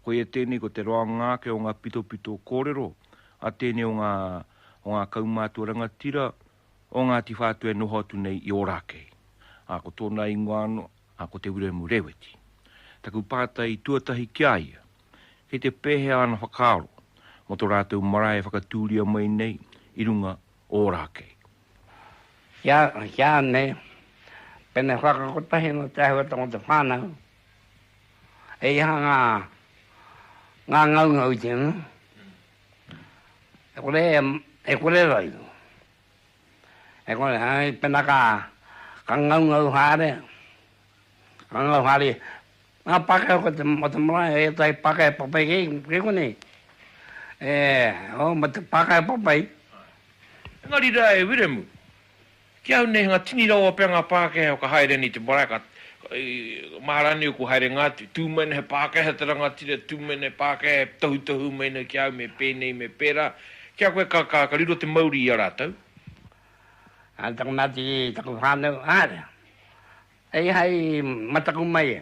Koia tēnei ko te roanga ake o ngā pitopito kōrero a tēnei o ngā o ngā kaumātua rangatira o Ngāti Whātua e noho atu nei i Ōrākei, ā, ko tōna ingoa anō, ā, ko Te Wiremu Rēweti. Taku pātai tuatahi ki a ia, kei te pēhea āna whakaaro mō tō rātou marae e whakatūria mai nei i runga o Ōrākei? Heane, Pēnei whakakotahi nō te āhuatanga o te whānau He aha ngā ngā ngaungau i tēnā? E kore e kore rau. E kore hai pena ka ka ngaungau haere. Ka ngau haere. Ngā Pākehā ko te o te marae he tai Pākehā papai kei kei konei. E o mo te Pākehā papai. Engari rā e Wiremu. Ki au nei, nga tini rawa pea nga Pakeha ka haere nei te marae, ka mahara nei oku haerenga atu, tu mai nei he Pakeha te rangatira, tu mai nei he Pakeha e tohutohu mai nei ki au me penei me pera, kia koe ka ka ka riro te mauri i a ratou. A taku mati i taku whanau, aria, e i hai mataku mai e.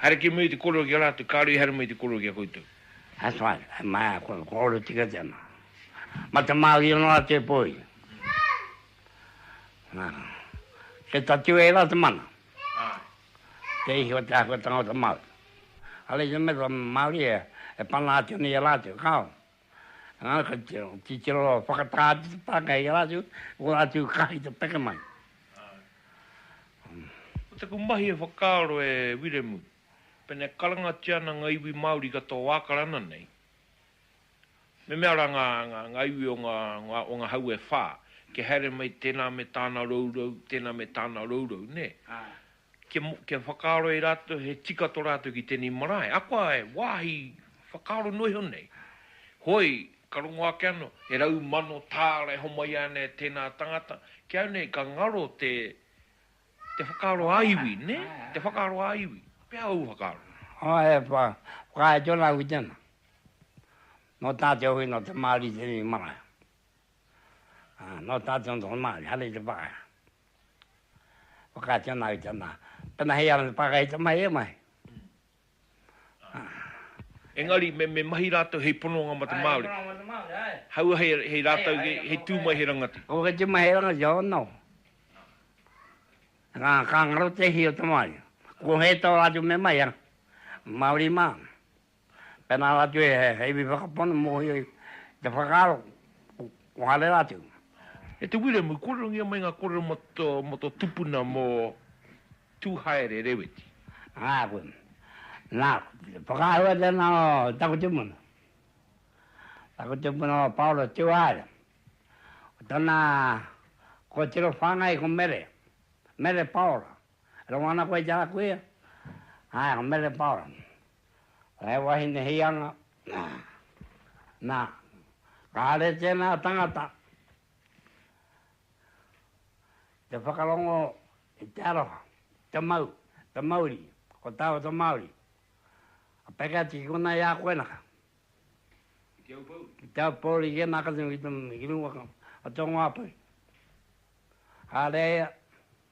Haere ki muri te korero ki a ratou, kare i haere mai te korero ki a koutou. That's right, he mai a koe, korero tika tena. Ma te marie noa te poi. Ke tatu e ra te mana. Ke ihi o te ahua tangata Maori. Are i te mea to marie e pana atu nei a ratou, kao. Ā, kei te titiro whakatā atu te pākehā i a rātou, ko rātou ka i te peke mai. Ā. Ko taku mahi e whakaaro e Wiremu, pēnā e karangatia ana ngā iwi Māori katoa o Ākarana nei, me mea rā ngā, ngā, ngā iwi o ngā, ngā, o ngā hau e whā, kia haere mai tēnā me tāna rourou, tēnā me tāna rourou, nē? Ā. kia whakaaro e rātou he tika tō rātou ki tēnei marae, akoa he wāhi whakaaro noa iho nei. Hoi, ka rongo ake anō, he rau mano tāra e homai ana e tēnā tangata, ki au nei ka ngaro te whakaaro ā-iwi, nē? Te whakaaro ā-iwi. Pēhea ōu whakaaro? Ā, he whakahaere tonu au ki tēnā. Nō tātou hoki, nō te Māori tēnei marae. Nō tātou nō te Māori, haere i te whakaea. Whakaatu ana au i te nā. Pena hei ara te pāka hei te mahi e mahi. Engari me, me mahi rātou hei pononga ma te Māori. Hei pononga ma te Māori, ae. Haua hei, hei rātou, hei, hei tū mai he rangati. Haua hei tū mai he rangati, oh no. Ka, ka ngaro te hī o te Māori. Ko hei tau rātou me mahi a. Māori mā. Pēnā rātou e he iwi whakapono mōhio i te whakaaro o haere rātou. E te Wiremu, kōrerongia mai ngā kōrero mō tō, mō tō tupuna, mō Tūhaere Reweti. Āku. Nā, whakaahua tēnā o taku tupuna. Taku tupuna o Paora Tūhaere. Ko tōna kōtiro whāngai ko Mere, Mere Paora. Rongo ana koe i te aha koe ia? Ae, ko Mele Paora. Ko he wahine hianga, na. Na, kāre tēnā tangata te whakarongo i te aroha, te mau, te mauri, ko tāua te Māori. Ka peke atu ki konā i a koe naka. Ki te Aupōuri? Ki te Aupōuri, ki ēnā katoa, ki runga, o te Rongo Āpuru. Kāre ia,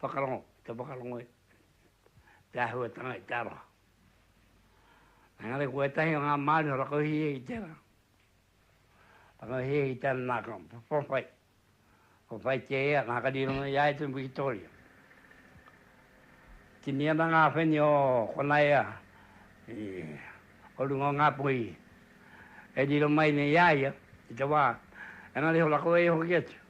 whakarongo, te whakarongo i te āhuatanga i te aroha. Engari ko ētahi o ngā Māori e rakohia i tērā, rakohia i tērā nā ka whawhai, whawhai te ea, nā ka rironga i a ia te Wikitoria. Tini ana ngā wheni o kona ea, o runga o ngā puhi, e riro mai nei i a ia, i te wā, engari ho rakohia hoki atu.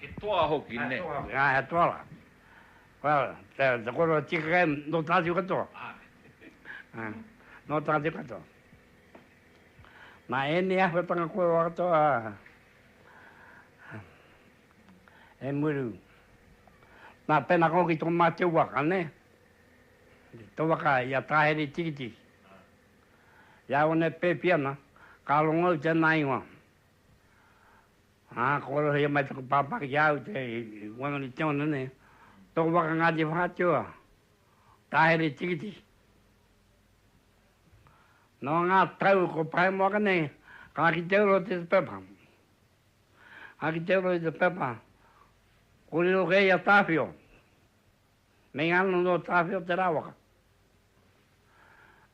He toa hoki, nē? Ā, he toa. Well, te koroua tika kai, nō tātou katoa. Āe. Nō tātou katoa. Nā ēnei āhuatanga kua roa katoa e muru. Nā, pēnā ka hoki tō mātou waka, nē? Tō waka i a Tāheri-tikitiki. I a One Pēpiana, ka rongo au tēnā ingoa. Ā, kua rohia mai taku pāpā ki a au te wanganu te ona nei, tōku waka Ngāti Whātua, Tāhere Tikiti. Nō ngā tau kua pae moa ka nei, ka ki te uro te te pepa. Ka ki te uro i te pepa, ko riro kē i a Tāwhio. Mei ano nō Tāwhio te rāwaka.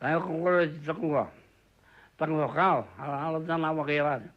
Tāwhio ko kore te takua, takua kāo, ara ara tāna waka i rātou.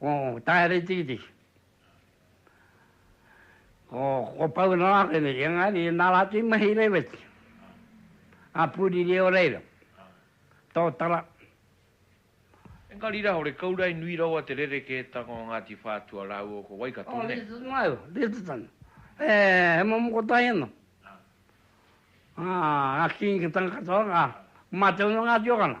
ko Taeretiriti, ko Pounarakere, engari ina rā te mahi reweti a Puriri o reira, Totara. Engari rā, ore Kaurae nui rawa te rerekētanga o Ngāti Whātua rāua ko Waikato, nē? Ko Lyttelton au, Lyttelton, he momo kotahi anō. Ā, a King Tangata Oranga, mate ana Ngāti Orana.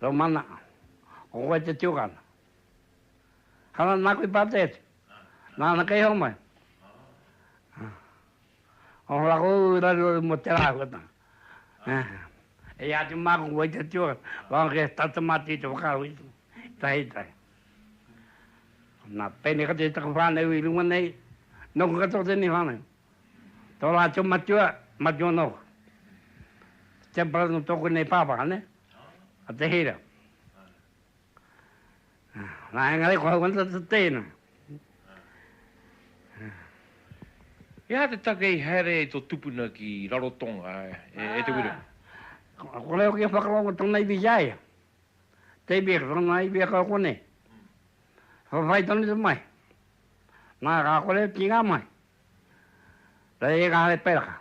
Rau mana, ko koe te tiokana. Hana naku i pate atu. Nana kei homai. Ono la ko rari rari mo te la kota. E ya te ma ko te tio. Ba ke ta te ma ti te ka wi. Tai tai. Na pene ka te ta ko fa nei wi lunga nei. No ko ka to te ni fa nei. Tō rātou matua, matua anō hoki. Te temple nō tōku nei pāpā, nē? A Te Hira. Nā, engari ko hau ana te tēina. He aha te take i haere ai tō tupuna ki Rarotonga e Te Wiremu? Ko reo ki a Whakarongo tōna iwi ki a ia. David, Ranga i weka au konei. Whawhai tonu te mai. Na, ka kore ki nga mai. Rei e Kare Peraka.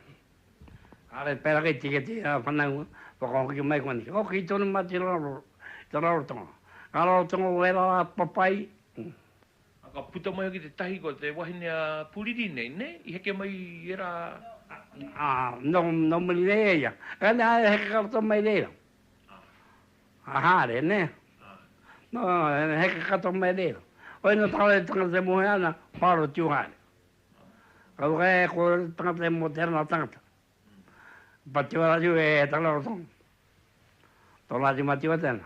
Kare Peraka i tika te whanaunga whakahoki mai konei. Hoki tonu ma te raro, te rarotonga. Nga rarotonga o era ra papai. A ka puta mai hoki te tahi ko te wahine a Puriri nei, ne? I heke mai i era. A, no muri nei e ia. Kare, a heke karato mai reira. a haere ne no heke katoa mai re oi no tangata e tangata e mohe ana ko aro tiu haere ka waka e ko tangata e mote ana tangata pati wara tiu e he tangata o tong to la di mati wate ana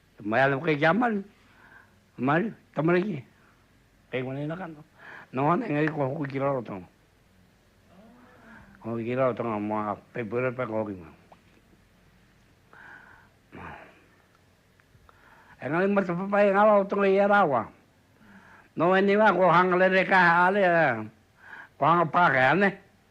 E mai ana koe ki a Maru. Maru, tamariki, kei konei na kano. No ana, engari kua hoki ki Rarotonga. Kua hoki ki Rarotonga mo a Peipuere pe kua hoki mai. Engari mo te papai e ngaro tonga i ara wa. No eni wa ko hanga lere ka ale. Ko hanga pa ka ne.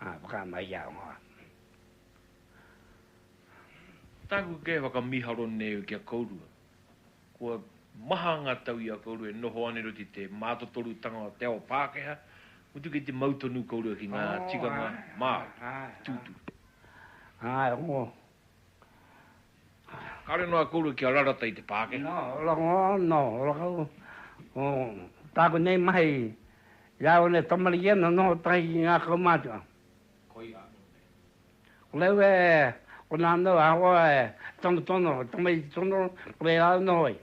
Ā, whakaā mai i a Ongoa. Tāku kē whakamiharo nēu ki a kourua. Kua maha ngā tau i a kourua e noho ana i roto i te mātotorutanga o te ao Pākehā, mutu kei te mau tonu kourua ki ngā tikanga Māori, tūturu. Āe, Ongoa. Kare noa kourua kia rarata i te Pākehā. Nā Rongo, nō Rongo, ko tāku nei mahi i a au nei tamariki ēnā nō tahi ki ngā kaumātua. Koia anō nei. Ko rāu e, ko nānau ahakoa e tonotono, tamariki tono, ko reira anō hoki.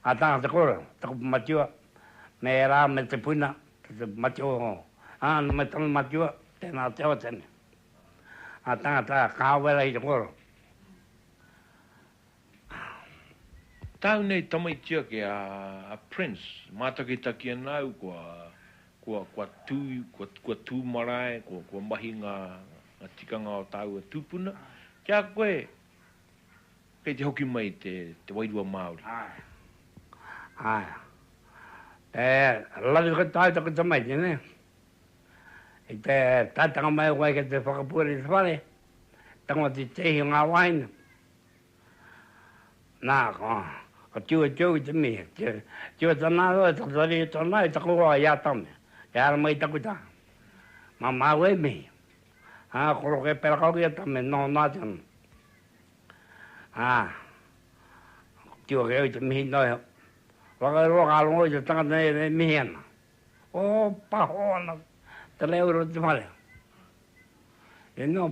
Ā tāngata kōrero, taku matua, me ērā me te puna, ki te mate o ā ana me tana matua, tēnā te Awateane. Ā tāngata kāore rahi te kōrero. Tāu nei tamaiti ake a Prince, mātakitaki ana au kua tū, kua tū marae, kua mahi ngā tikanga o tāua tūpuna. Ki a koe, Kei te hoki mai te te wairua Māori? Aea. Aea. E lawe koe tāu taku tamaiti nē. I te taetanga mai koe ki te whakapuare i te whare, tango te tēhi o ngā wāhine. Nā, ko, ko tiwe tōu i te mihi. Tiwe tana aro e taku tari i tōna, i taku hoa i Atame. He ara mai i taku taha. Mā māu e mihi. Ā, koroke pera kau ki Atame, noho noa atu ana. Ā, ka tiro kē au i te mihi noa iho. Whakaurua ka rongo i te tangata nei e mihi ana. Ōpaho ana te reo i roto i te whare. He mea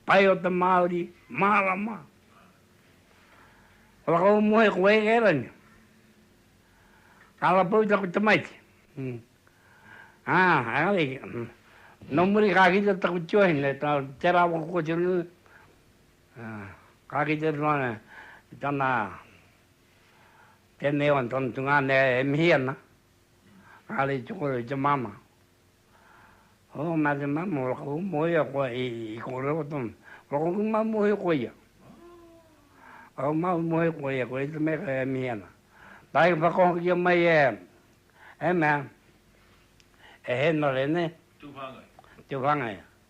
pai o te Māori, mārama. Ka whakamoe koe e Kerani. Ka rapau taku tamaiti. Ā, engari, nō muri ka kitea taku tiohine, tērā waka kōtiro nui. Ka kite atu ana i tana tēnei o tana tungāne e mihi ana, kāre i tukua i te māmā. Hō, nā te māmā o Raka Umohia koa i kōrero tonu. Raka Umohia ko ia. Raka Umohia ko ia, ko ia te mea e mihi ana. Nā i whakahokia mai e, e mea, e Henare, nē? Tūwhāngai. Tūwhāngai.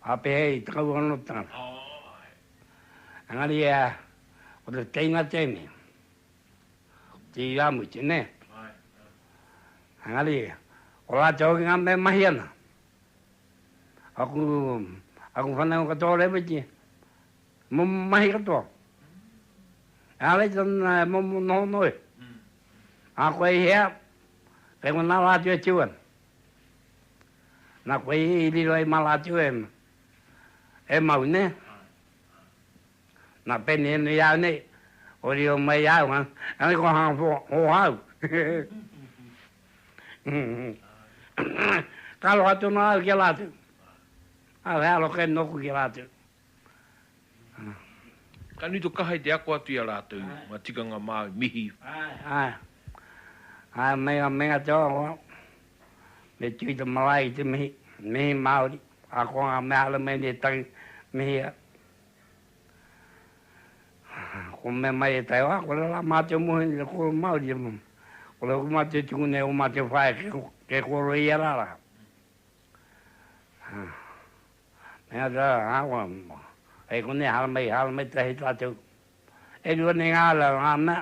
Āpehea i te kauanotanga. Engari e ai, ko te teina tēnei, ko te irāmutu, nē? Engari, ko rātou hoki ngā mea e mahi ana. Aku, aku whanau katoa Rēweti, momo mahi katoa. Engari tana e momo noho noa iho. Ā koe i hea, kei konā rātou e tū ana. Na koe i riro ai ma latou e e mau ne na pene no iau nei o riro mai iau ha e ko ha fo ho hau ka roa tonu au ki a latou a rearo ke noku ki a latou. Ka nui to kaha i te ako atu i a ratou nga tikanga Maui. Mihi. Ae. Ae me nga mea te ora. Me tui te marae i te mihi. Mihi Maori. Ako nga mea hara me ēnei tangi. Mihi a. Ko me mai e tai wa, kore la matou muhe ni te koro Maori. Kore hoki matou e tuku nei o matou whaea ke koro i a rara. Mea rā, Awa, kei konei haramai, haramai tahi tātou. E rua nei ngā rā, ngā mea,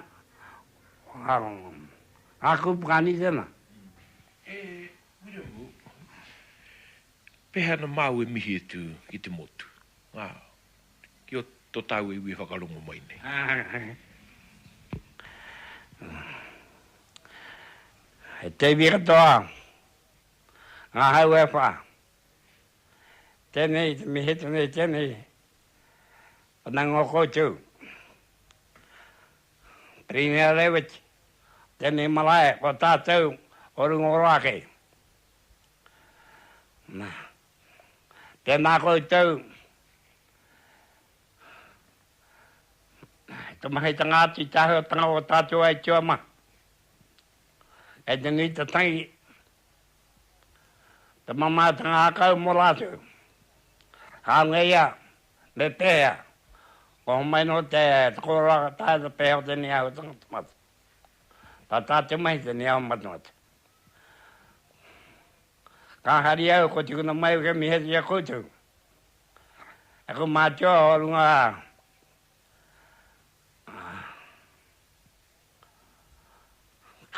ngā kūpakani tēnā. E Wiremu, pēhea ana māu e mihi atu ki te motu, ngā, ki ō tō tāu iwi e whakarongo mai nei? He teiwi katoa, ngā hau e whā. Tēnei te mihi, tēnei, tēnei. Whanango koutou. Pirimia Reweti, tēnei marae o tātou o Rungoroa kei. Na, tēnā koutou i te mahitanga atu i te āhuatanga o tātou aituā mā. Kei te nui te tangi Te mamaetanga hakau mo ratou. Haunga ia, me pehea? Kua homai no te koroa ka taea te pehe o te niahu tangata mate. Ka ta te mahi te niahu matemate. Ka hari au ko tikuna mai uke mihe tia koutou. E ku mātua o runga a.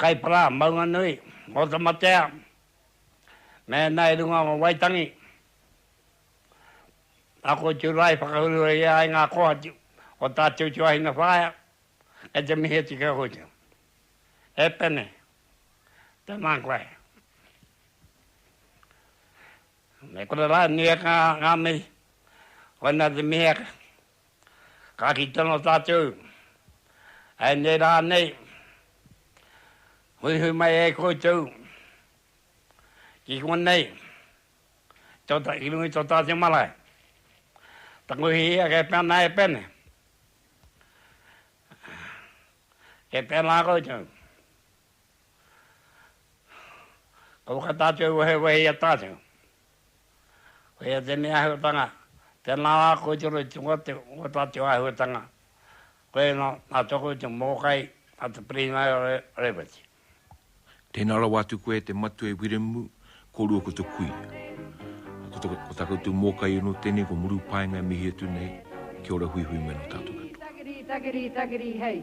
Kaipara Maunganui, Otamatea, mēnā i runga o Waitangi, ako i tūrā i whakahurua i a ai ngā kōhatu o tā Te Utuāhina Whaea kei te mihi atu ki a koutou. E Pene, tēnā koe. Me kore rānei e kā ngā mihi, koinā te mihi ake. Kāti tonu tātou hei nei rā nei, huihui mai e koutou ki konei, ki runga i tō tātou marae. Tangohia ia kei pēnā e pēnei. Kei pēnā koutou. Kua whakatātou wehe wehe i a tātou. Koia ia tenei ahuatanga, tena la koe te roi tunga te o tatou ahuatanga, koia na na toku te mokai a te Pirina Reveti. Tena rawa atu koe te matu e Wiremu, korua ko te kui. Ko ta ko ta koutou mokai ono tenei ko muru paenga e mihi atu nei, kia ora huihui mai no tatou katoa. Takiri takiri takiri takiri hei.